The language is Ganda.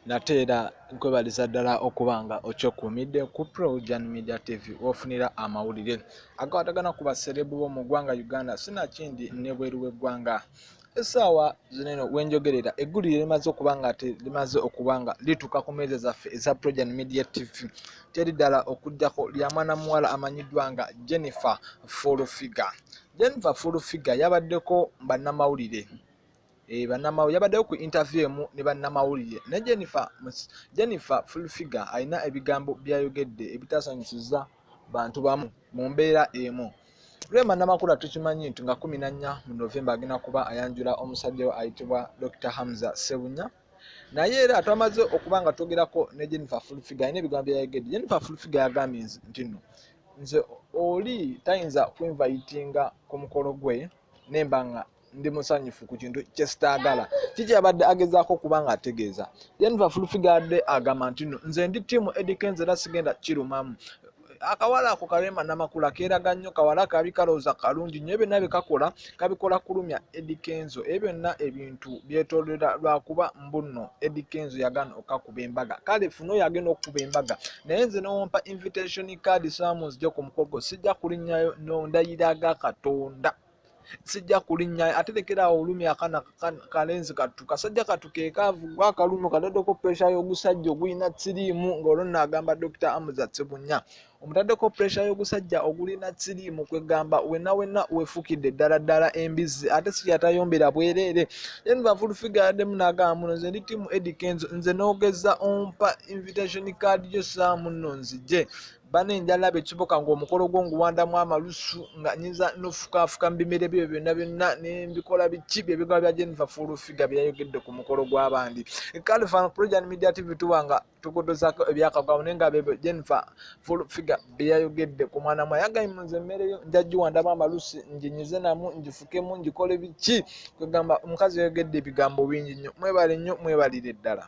nate era nkwebaliza ddala okuba nga okyekuumidde ku projan media tv wofunira amawulire agakwatagana ku baserebu bo mu ggwanga uganda sinakindi nebweru w'eggwanga esaawa zineno wenjogerera eggulire limaze okuba nga te limaze okuba nga lituuka ku meeza zaffe eza projan media tv teri ddala okuddako lya mwana muwala amanyiddwa nga jennifer full figure jennifer full figure yabaddeko bannamawulire Eh, bannamawulire yabaddeyo ku interview emu ne bannamawulire ne jennifer jennifer fulfiga alina ebigambo byayogedde ebitasanyusiza bantu bamu mu mbeera emu rema namakula tukimanyi nti nga kumi nannya mu novemba agenda kuba ayanjula omusajja we ayitibwa dr hamza sebunya naye era twamaze okuba nga twogerako ne jennifer fulfiga alina ebigambo byayogedde jennifer fulfiga yagambye nti no nze oli tayinza kwinvayitinga ku mukolo gwe nemba nga ndi musanyufu ku kintu kyesitaagala kiki yabadde agezaako okuba nga ategeeza jennifa fulfigadde agamba nti no nze ndi tiimu edikenza era sigenda kirumamu akawala ako kalema namakula keeraga nnyo kawala kabi kalowooza kalungi nyo byonna byekakola kabikola kulumya edikenzo ebyo byonna ebintu byetolera lwakuba mbunno edikenzo yagana okakuba embaga kale funa oyo agenda okukuba embaga naye nze newompa invitation card samu nzija ku mukolo gwo sijja kulinnyayo nondayiraga katonda sijja kulinnya ate lekeraawo olumi akana kalenzi kattu kasajja kattu kekaavu gwa akalumi kataddeko puresha y'ogusajja ogulina siriimu ng'olwo nno agamba dokita amuza sebunya omutaddeko puresha y'ogusajja ogulina siriimu kwegamba wenna wenna wefukidde ddala ddala embizzi ate sikyatayombera bwereere then bafulufiga yaddemu n'agamba muno nze ndi tiimu edikenzo nze n'ogeza ompa invitation card yo saamu nno nzije bana enjala bekibuka ngaomukolo gwo nguwandamu amalusu nga nyinza nofukaafuka mu bimere byo byonna byonna nembikola biki byebigaba bya jennifer fulufiga byeyayogedde ku mukolo gw'abandi kale fan projan media tv tuba nga tugodozaako ebyakagwamu naye nga bebyo jennifer fulufiga byeyayogedde ku mwana mwa yagayi munze emmere yo njajjiwandamu amalusu njinyize namu njifukemu njikole biki kwegamba omukazi yayogedde ebigambo bingi nnyo mwebale nnyo mwebalire ddala